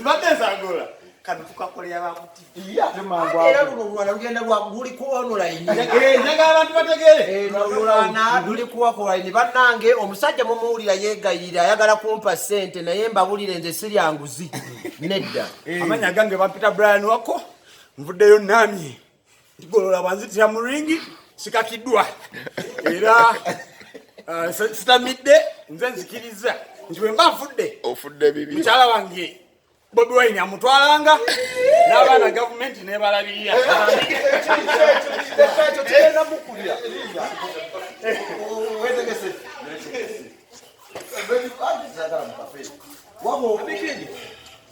mbatezagola kano tukakolera bakutivera luno lulwana lugenda luli kuonulainenjaga abantu bategerelwana luli kuwakolaini bannange omusajja mumuwulira yegayirira ayagala kumpa sente naye mbabulire nze siryanguzi nedda amanya gange bampita brian wako nvuddeyo namye golola banzitira mu ringi sikakiddwa era uh, sitamidde nze nzikiriza nti wemba nfudde ofudde bibi mukyala wange bobi wine amutwalanga n'abaana gavumenti nebalabirira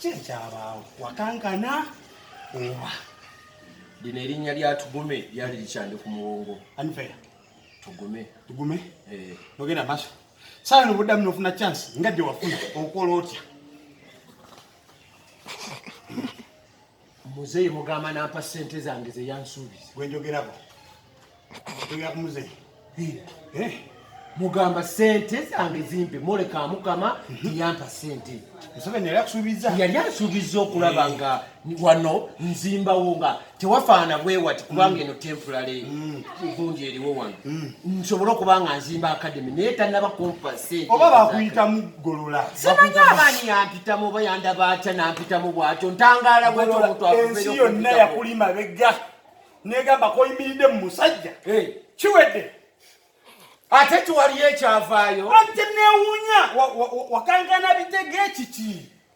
kyekyabaawo wakankana oba lino erinnya lya tugume lyali likyandi ku muwongo anfeya tugume tugume eh. nogenda maso sawa no buddamu nofuna chance nga gye wafuna okola otya muzeyi mugamba nampa sente zange zeyansuubiza gwenjogerako njogera ku muzeyi eh? mugamba sente zange zimpe moleka mukama tiyampa mhm. sente yali asuubiza okulaba eh. nga wano nzimbawo nga tewafaana bwewati kubanga mm. eno temporary mm. vunja eriwo wano hmm. nsobole okuba nga nzimba akademi naye tanaba kumpa sente oba bakuyita mugolola simanyi abaani yampitamu oba yandaba atya nampitamu bwatyo ntangaala bwatyo omuntu ensi yonna yakuli mabega negamba koyimiridde mu musajja eh. kiwedde ate kiwaliyo ekyavaayo ate newunya wakankana bitega ekiki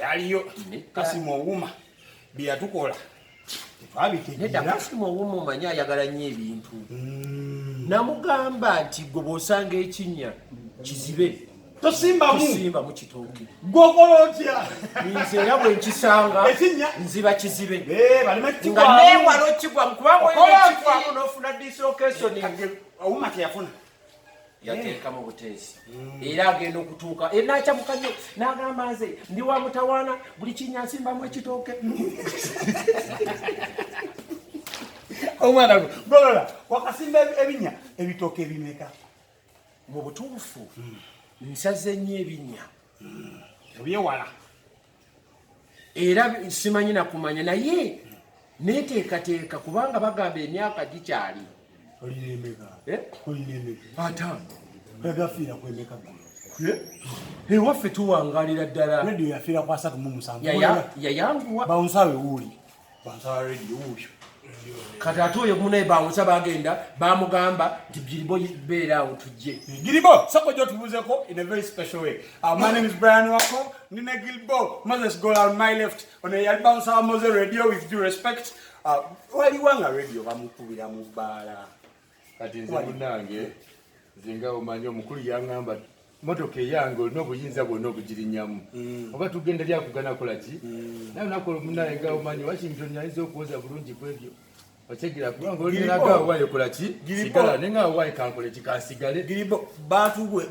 yaliyo kasimu owuma byeyatukola tetwabitegeera kasimu owuma omanyi ayagala nnyo ebintu hmm. namugamba nti gwe bwosanga ekinnya kizibe tosimbamusimbamu kitooke gwokola otya nze era bwe nkisanga nziba kizibe eh, nga newala okigwamu kubanga oyina okigwamu nofuna dislokesoni owuma teyafuna yateekamu buteesi mm. era agenda okutuuka e, nakyamuka nyo nagamba nze ndi wa mutawaana buli kinya nsimbamu ekitooke omwana gwe golola wakasimba ebinya ebitooke ebimeka mu butuufu mm. nsaze nnyo ebinya mm. ebyewala era simanyi nakumanya naye neteekateeka kubanga bagamba emyaka gikyali eh? ewaffe eh? eh, tuwangalira ddala yayanguwa kati ate oyo munaye bawusa bagenda bamugamba nti biribo beera awo tujje giribo sako gyotubuzeko in a very special way uh, my name is brian wako nina gilbo moses go on my left ono yali bawusa wa mose radio with due respect uh, waliwa nga radio bamukubira mu bbaala kati nze munange nze nga omanyi omukulu yangamba motoka eyange olina obuyinza bwona obugirinyamu mm. oba tugenda lyakugana kola ki mm. naye nakola omunaye nga omanyi washington ayinza okuwoza bulungi kwebyo otegera kubanga olinaga awaye kola ki sigala naye nga awaye kankole ki kansigale giribo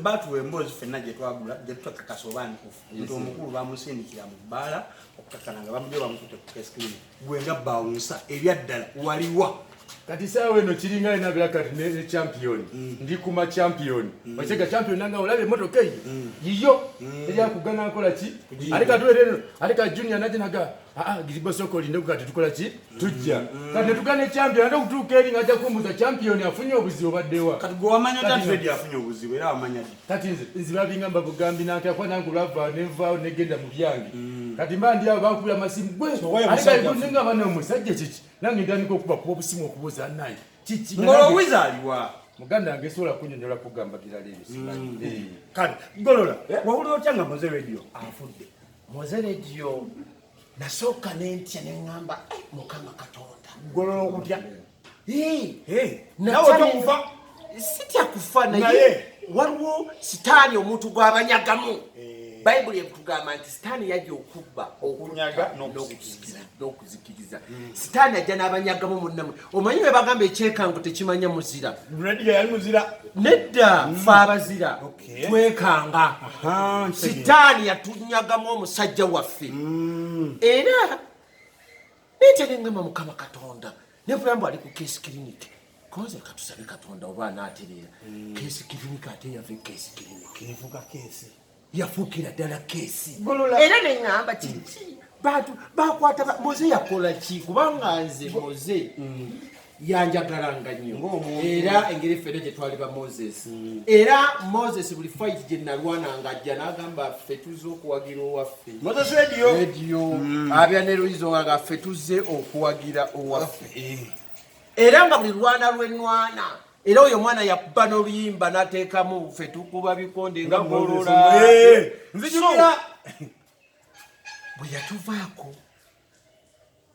batuwa emboozi fenna gyetwagula gyetutakakas oba nkufu nti omukulu bamusindikira mu bbaala okukakana nga bamugye bamukute ku keskrini gwe nga bawunsa ebyaddala waliwa kati saawa eno kiringa lina bera kati ne champion mm. ndi kuma champion mm. okyega champion nanga olabye emotoka eyo mm. yiyo eryakugana nkola ki ate katuwereno ate ka junior naje naga aa ah, ah, giriba soko linde ku kati tukola ki tujja kati netugane champion ate okutuuka eri nga ajja kumbuza champion afunye obuzibu baddewa kati gwe wamanya tatuedi afunye obuzibu era wamanya di kati nze nziba bingamba bugambi nantya kuba nange olwava nenvaawo negenda mu byange mm. kati mba ndi awo bankubira amasimu gwealinga abana omusajja kiki nange ndandika okuba kuba obusimu okubuuza naye kiki ngolowizaaliwa muganda wange sobola kunyonyola kugamba birala ebyo mm. eh. kale golola eh? wawulira otya nga moze radio afudde moze radio nasooka nentya neŋamba eh, mukama katonda golola okutya nawe tokufa sitya kufa naye waliwo sitaani omuntu gwabanyagamu eh. bayibuli etugamba nti sitaani yajja okubba okunyaga n'okuzikiriza hmm. sitaani ajja n'abanyagamu munnamwe omanyi bwe bagamba ekyekango tekimanya muzira nedda hmm. fe abazira twekanga sitaani yatunyagamu omusajja waffe hmm. era nente nengamba mukama katonda nevulambu ali ku case clinic koze katusabe katonda oba anatereera hmm. case clinic ate yave case clinic evuga case yafuukira ddala case era nengamba kiki bantu bakwata moze yakola ki kubanga nze moze hmm. yanjagalanga nnyo era engeri ffena gye twali ba moses hmm. era moses buli fayiti gye nalwananga ajja n'agamba ffe tuzze okuwagira owaffe rediyo hmm. abya ne luyizo nga ffe tuzze okuwagira owaffe eh. era nga buli lwana lwenwana era oyo omwana yakuba n'oluyimba n'ateekamu ffe tukuba bikonde nga golola eh. nzijukira bwe yatuvaako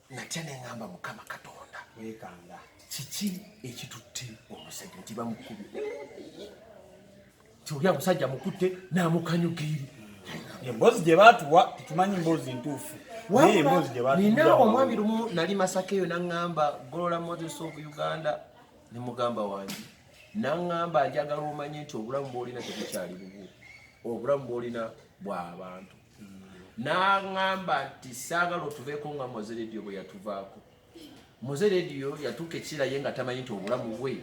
natya neŋamba mukama katonda wekanga kiki ekitutte omusajja nti bamukubi tioli amusajja mukutte namukanyugiiri emboozi gye baatuwa tetumanyi mboozi ntuufu nina omwami lumu nali masaka eyo naŋamba golola moses of uganda ne mugamba wange naŋamba njagala omanye nti obulamu bwolina tebukyali bubwo obulamu bwolina bwa bantu n'aŋŋamba nti saagala otuveeko nga moze rediyo bwe yatuvaako moze rediyo yatuuka ekiseera ye nga tamanyi nti obulamu bwe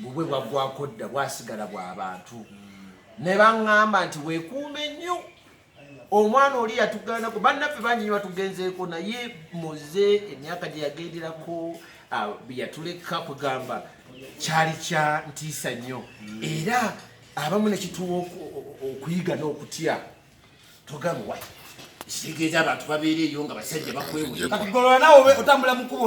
bubwe bwaggwako dda bwasigala bwa bantu ne baŋŋamba nti weekuume nnyo omwana oli yatugaana ku bannaffe bangi nyo batugenzeeko naye moze emyaka gye yagenderako yatuleka kugamba kyali kya ntiisa nnyo era abamu nekituwa okuyiga n'okutya togamba wa ekitegeeza abantu babeera eyo nga basajja bakwewuyo kati golola nawe otambula mukubo